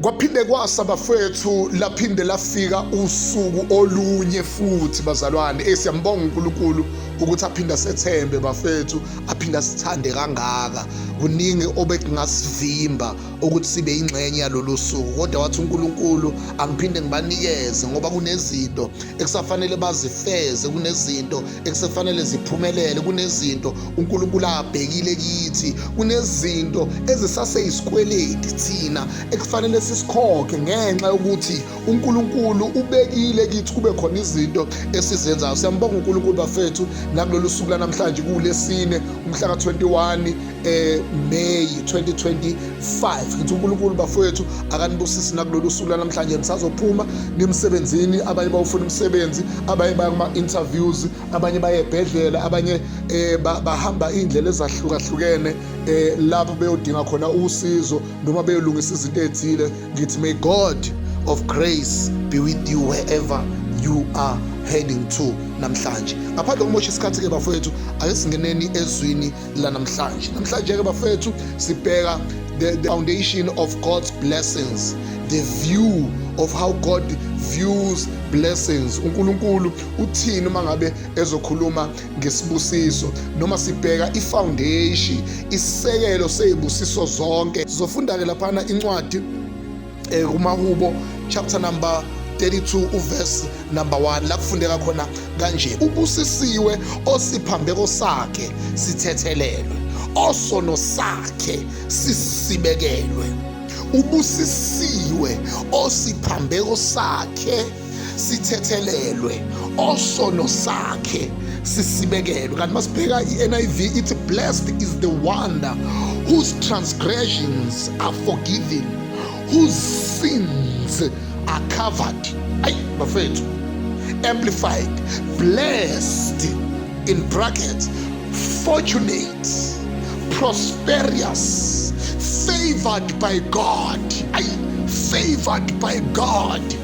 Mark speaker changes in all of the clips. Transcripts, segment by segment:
Speaker 1: Kwaphinde kwasa bafethu laphinde lafika usuku olunye futhi bazalwane eh, siyambonga uNkulunkulu ukuthi aphinda sethembe bafethu aphinda sithande kangaka kuningi obekungasivimba ukuthi sibe ingxenye yalolu suku kodwa wathi uNkulunkulu angiphinde ngibanikeze ngoba kunezinto ekusafanele bazifeze kunezinto ekusefanele ziphumelele kunezinto uNkulunkulu abhekile kithi kunezinto ezisase isikweleti thina ekufanele sisikhokhe ngenxa yokuthi uNkulunkulu ubekile kithi kube khona izinto esizenzayo siyambonga uNkulunkulu bafethu nakulolu suku lanamhlanje kulesine umhla ka21 eh May 2025 ngithi uNkulunkulu bafowethu akanibusisi nakulolu suku lanamhlanje nisazophuma nimsebenzini abanye bawufuna umsebenzi abanye bakuma interviews abanye bayebhedlela abanye eh bahamba indlela ezahlukahlukene eh lapho beyodinga khona usizo noma beyolungisa izinto ezithile ngithi may God of grace be with you wherever you are heading to namhlanje ngaphandle kokumosha isikhathi ke bafowethu ake singeneni ezwini la namhlanje namhlanje-ke bafethu sibheka the, the foundation of god's blessings the view of how god views blessings unkulunkulu uthini uma ngabe ezokhuluma ngesibusiso noma sibheka ifoundation isisekelo sezibusiso zonke zofunda-ke laphana incwadi eh, kumahubo chapter number 32 uverse number 1 la kufundeka khona kanje ubusisiwe osiphambeko sakhe sithethelelwe osono sakhe sisibekelwe ubusisiwe osiphambeko sakhe sithethelelwe osono sakhe sisibekelwe kanti masibheka i-niv ithi blessed is the one whose transgressions are forgiven whose sins are covered ayi bafethu amplified blessed in bracket fortunate prosperous favored by god ayi favored by god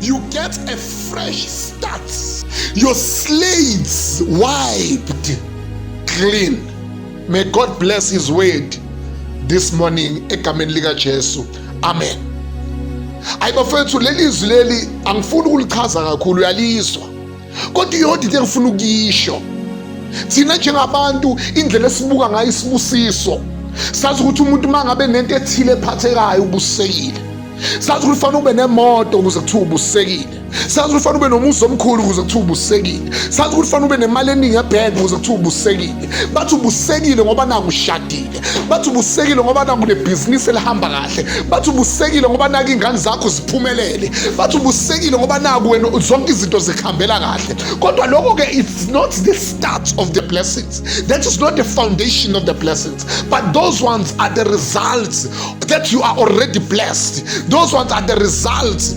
Speaker 1: You get a fresh start. Your slates wiped clean. May God bless his word this morning egameni lika Jesu. Amen. Ayi bafethu leli izwi leli angifuni ukulichaza kakhulu uyalizwa. kodwa iyodwa into engifuna ukuyisho thina njengabantu indlela esibuka ngayo isibusiso sazi ukuthi umuntu uma ngabe nento ethile ephathekayo ubusekile sazi ukuthi ufanele ube nemoto ukuze kuthiwa ubusekile sazi ukuthi ufanele ube nomuzi omkhulu ukuze kuthiwa ubusekile sazi ukuthi ufanele ube nemali eningi ebhenki ukuze kuthiwa ubusekile bathi ubusekile ngoba nangu ushadile bathi ubusekile ngoba nakunebhizinisi elihamba kahle bathi ubusekile ngoba nake ingane zakho ziphumelele bathi ubusekile ngoba naku wena zonke izinto zikuhambela kahle kodwa lokho ke it's not the start of the blessings that is not the foundation of the blessings but those ones are the results that you are already blessed those ones are the results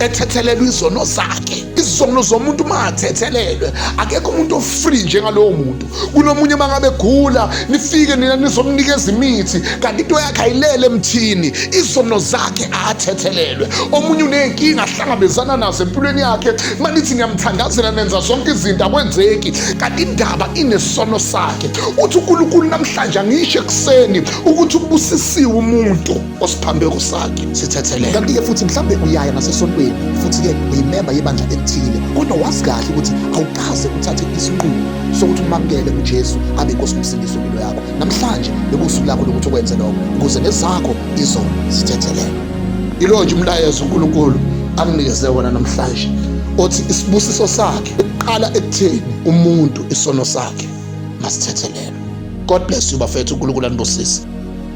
Speaker 1: ethethelelwa izono zakhe izono zomuntu uma athethelelwe akekho umuntu ofree njengalowo muntu kunomunye uma ngabe gula nifike nina nizomnikeza imithi kanti into yakhe ayilele emthini izono zakhe athethelelwe omunye uney'nkinga ahlangabezana nazo empilweni yakhe uma nithi niyamthandazela nenza zonke izinto akwenzeki kanti indaba inesono sakhe uthi unkulunkulu namhlanje angisho ekuseni ukuthi ubusisiwe umuntu osiphambeko sakhe sithethelele kanti-ke futhi mhlawumbe uyaya nasesontweni futhi-ke uyimemba yebandla elithile kodwa wazi kahle ukuthi awukaze uthathe isinqumo sokuthi umamukele ujesu abe nkosi nomsindisi wempilo yakho namhlanje bekuwusuku lakho lokuthi ukwenze lokho ukuze nezakho izono zithethelele yilo nje umlayezo unkulunkulu anginikeze wona namhlanje othi isibusiso sakhe uqala ekutheni umuntu isono sakhe masithethelele god bless you bafethu unkulunkulu anibusise